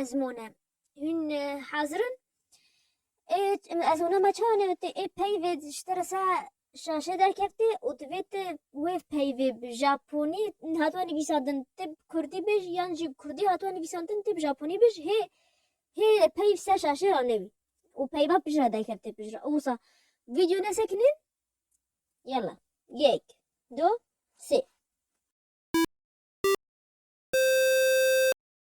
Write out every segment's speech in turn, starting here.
Ez mone. Hûn hazir in? Ê ez hûna me çawa nevitê ê peyvê ji te re se şaşê derkevtê û divê tu wê peyvê bi japonî hatiye nivîsandin tu bi kurdî bêj yan jî bi kurdî hatiye nivîsandin tu bi japonî bêj hê hê peyv ser şaşê re nevî û peyva pij re derkevtê pij re wisa vîdyo nesekinîn yala yek du sê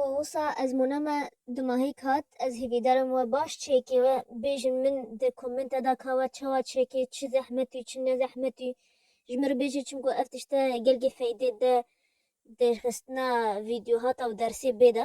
û wisa ez mûna me du mahîk hat ez hîvîdarim we baş çêkê we bêjin min di komenta da ka we çawa çêkê çi zehmet û çi ne zehmet û ji min re bêjin çimku ev tişte gelkî feydê de derxistina vîdyohata û dersê bê de